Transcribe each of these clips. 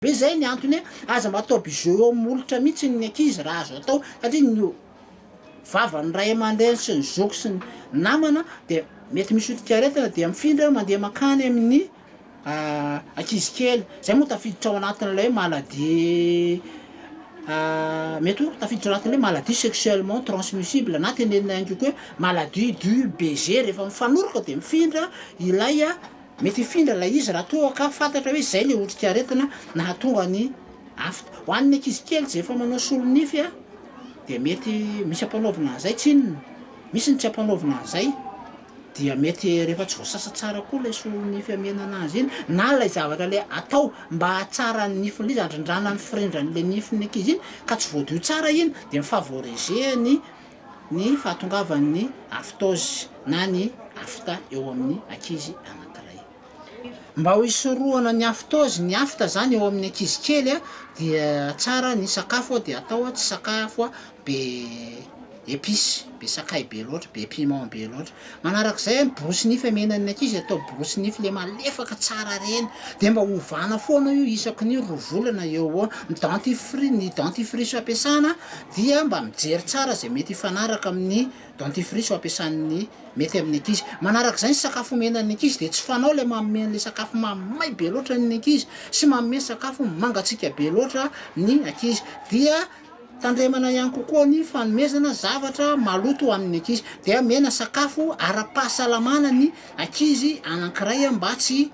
be zay ny antony hoe aza mataoby jeux eo molotra mihitsy ny ankizy raha azo atao satria ny vavan'ny ray aman-dreny sy ny zoky sy ny namana dia mety misy otrikaretina dia mifindra mandeha mankany amin'ny ankizy kely, zay moa tafiditra ao anatin'ilay hoe maladie mety hoe tafiditra ao anatin'ilay hoe maladie sexuellement transmissible na tenenina ihany koa hoe maladie du baiser rehefa mifanoroka de mifindra ilay mety hifindra ilay izy raha toa ka fantatra hoe zay le otrikaretina nahatonga ny afta, ho an'ny ankizy kely zay efa manao solonify a de mety misy ampanaovina an'zay tsinona, misy ny tsy ampanaovina an'zay. dia mety rehefa tsy voasasa tsara koa ilay solon'ny fiamenana azy iny na ilay zavatra le atao mba hahatsara ny nifin'ilay izy, handrindrana ny firindran'ilay nifin'ny ankizy iny ka tsy voadio tsara iny dia mi-favoriser-ny ny fahatongavan'ny aftozy na ny afta eo amin'ny ankizy anankiray. Mba ho hisorohana ny aftozy, ny afta zany eo amin'ny ankizy kely dia tsara ny sakafo dia atao tsy sakafo be epice, be sakay be loatra, be piment be loatra, manarak'izay ny borosy nify amenan'ny ankizy atao borosy nify le malefaka tsara reny, de mba ovana foana io isaky ny roa volana eo ho eo, ny dentifrice ny dentifrice ampiasana dia mba mijery tsara zay mety hifanaraka amin'ny. Dentifrice ampiasan'ny mety amin'ny ankizy. Manaraka izay ny sakafo omena ny ankizy dia tsy fanao ilay manome an'ilay sakafo mamay be loatra ny ankizy sy manome sakafo mangatsiaka be loatra ny ankizy dia tandremana ihany kokoa ny fanomezana zavatra maloto amin'ny ankizy dia omena sakafo ara-pahasalamana ny ankizy anankiray mba tsy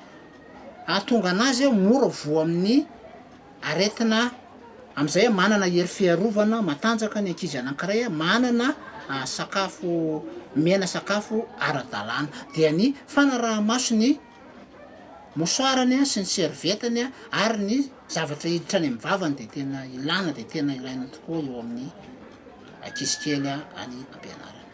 hahatonga an'azy mora voa amin'ny Aretina, Amin'izay manana hery fiarovana matanjaka ny ankizy anankiray, manana sakafo, omena sakafo ara-dalàna. Dia ny fanaraha-maso ny mosoarany sy ny servietany ary ny zavatra hiditra any amin'ny vavany dia tena ilàna, dia tena ilaina tokoa eo amin'ny ankizy kely any am-pianarana.